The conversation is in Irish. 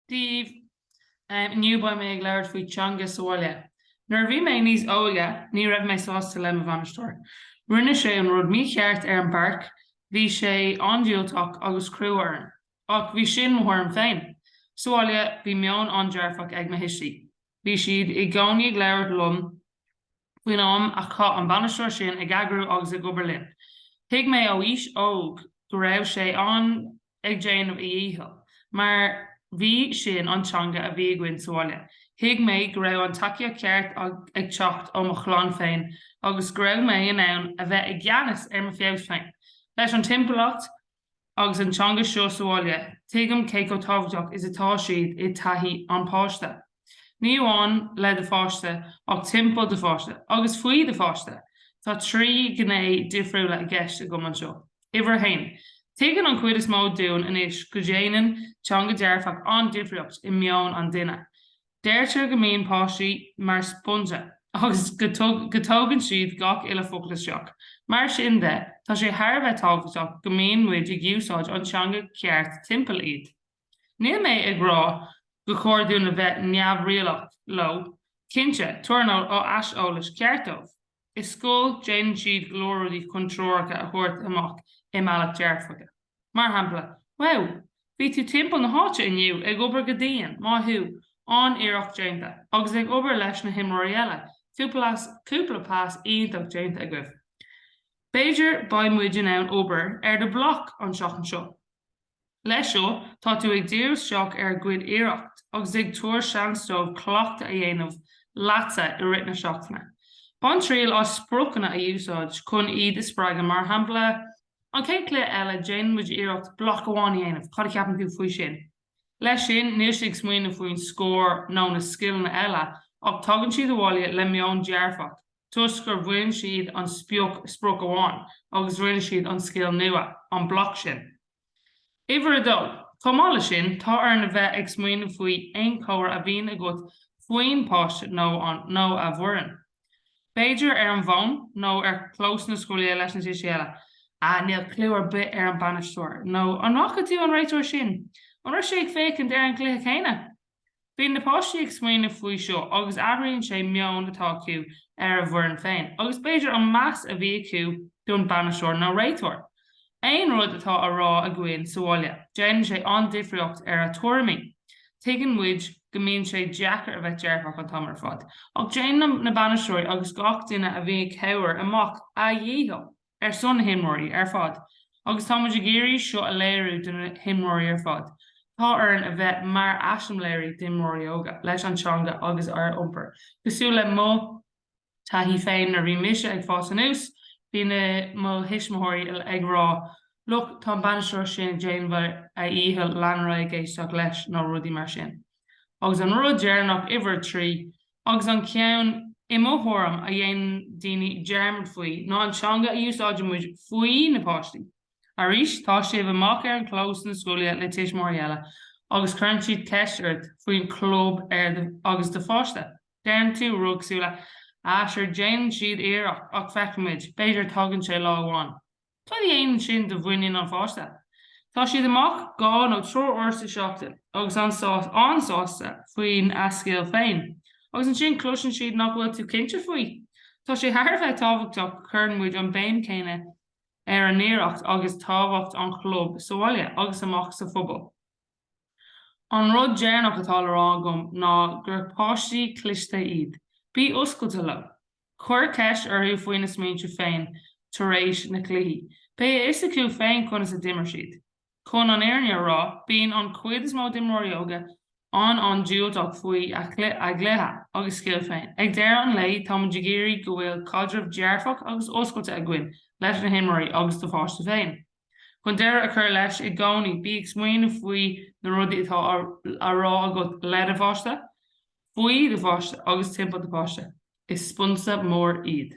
daoibh. Inniu beidh mé ag labhairt faoi teanga sa bhaile. Nuair a bhí mé níos óige ní raibh mé sásta le mo bhainisteoir. Rinne sé an rud mícheart ar an bpáirc, bhí sé an-diúltach agus crua orm. Ach bhí sin mo thuairim féin. Sa bhaile bhí meon an-dearfach ag mo thuistí. Bhí siad i gcónaí ag labhairt liom faoin am a chaith an bainisteoir sin ag eagrú agus ag obair linn. Thuig mé ó aois óg go raibh sé ann ag déanamh a dhícheall mar bhí sin an teanga a bhí againn sa bhaile. Thuig mé go raibh an tacaíocht cheart ag teacht ó mo chlann féin agus go raibh mé in ann a bheith i gceannas ar mo feabhas féin leis an timpeallacht agus an teanga seo sa bhaile, tuigim cé chomh tábhachtach is atá siad i dtaithí an pháiste. Ní amháin le do pháiste ach timpeall do pháiste agus faoi do pháiste. Tá trí ghné difriúla i gceist agam anseo. Uimhir a haon, tuigeann an chuid is mó dúinn anois go ndéanann teanga dearfach an-difríocht i meon an duine. Deirtear go mbíonn páistí mar sponge agus go dtógann siad gach uile focal isteach. Mar sin de, tá sé thar a bheith tábhachtach go mbíonn muid ag úsáid an teanga ceart timpeall iad. Níl mé ag rá go chóir dúinn a bheith neamhrialach leo, cinnte, tabhair aiseolas ceart dóibh. I scoil, déanann siad go leor rudaí chun treoracha a thabhairt amach i mbealach dearfach. Mar shampla, Wow! Bhí tú timpeall na háite inniu, ag obair go dian, maith thú, an-iarracht déanta, agus ag obair leis na himreoirí eile, cúpla pas iontach déanta agaibh. B'fhéidir beidh muid in ann obair ar do bhloc an tseachtain seo. Leis seo, tá tú ag díriú isteach ar a gcuid iarracht agus ag tabhair seans dóibh cleachtadh a dhéanamh leatsa i rith na seachtaine. Bain triail as spriocanna a úsáid chun iad a spreagadh mar shampla An chéad chluiche eile déanann muid iarracht bloc amháin a dhéanamh, cad a cheapann tú faoi sin? Leis sin níl siad ag smaoineamh faoin scór nó na scileanna eile ach tagann siad abhaile le meon dearfach toisc gur bhain siad an sprioc sprioc amach agus rinne siad an scil nua, an bloc sin. Uimhir a dó, chomh maith leis sin tá orainn a bheith ag smaoineamh faoi aon chomhrá a bhíonn agat faoin bpáiste nó nó a bhfoireann. B'fhéidir ar an bhfón nó ar chlós na scoile leis na tuistí eile. Ah, níl cliú ar bith ar an bainisteoir. Nó an bhfaca tú an réiteoir sin? An raibh sé ag féachaint ar an gcluiche céanna? Bíonn na páistí ag smaoineamh faoi seo agus athraíonn sé meon atá acu ar a bhfoireann féin agus b'fhéidir an meas a bhí acu don bainisteoir nó réiteoir. Aon rud atá á rá againn sa bhaile, déanann sé an-difríocht ar a tuairimí. Tuigeann muid go mbíonn sé deacair a bheith dearfach an t-am ar fad, ach déanann na bainisteoirí agus gach duine a bhíonn ag cabhair amach a dhícheall ar son na himreoirí ar fad agus tá muid ag iarraidh seo a léiriú do na himreoirí ar fad. Tá orainn a bheith mar eiseamláirí d'imreoirí óga, leis an teanga agus ár iompar cosúil le mo. taithí féin nuair a bhí mise ag fás anuas, bhí na mo thuismitheoirí ag rá, look, tá an bainisteoir sin ag déanamh a dhícheall, lean ort ag éisteacht leis nó rudaí mar sin. Agus an rud deireanach, uimhir a trí, agus an ceann, i mo thuairim, a dhéanann daoine dearmad faoi, ná an teanga a úsáideann muid faoi na páistí. Arís, tá sibh amach ar an clós na scoile le tuismitheoirí eile agus cuireann siad ceist ort faoin chlub agus do pháiste. Déanann tú rud súile. Á, sure déanann siad iarracht ach feicfimid, b'fhéidir tagann sé lá amháin. Cad a dhéanann sin do mhuinín an pháiste? Tá siad amach dhá nó triúr uair sa seachtain agus an-sásta, an-sásta faoin a scil féin. Agus ansin cloiseann siad nach bhfuil tú cinnte faoi. Tá sé thar a bheith tábhachtach cuireann muid an béim céanna ar a n-iarracht agus tábhacht an chlub sa bhaile agus amach sa phobal. An rud deireanach atá le rá agam ná gur páistí cliste iad. Bí oscailte leo. Cuir ceist orthu faoina smaointe féin tar éis na cluichí. Beidh a fhios acu féin conas a d'imir siad. Chun an fhírinne a rá, bíonn an chuid is mó d'imreoirí óga an-an-diúltach faoi a gcluiche agus scil féin. Ag deireadh an lae, táimid ag iarraidh go bhfuil caidreamh dearfach agus oscailte againn leis na himreoirí agus do pháiste féin. Chun deireadh a chur leis i gcónaí, bí ag smaoiniú faoi na rudaí atá á rá agat le do pháiste, faoi do pháiste agus timpeall do pháiste. Is spúinse mór iad.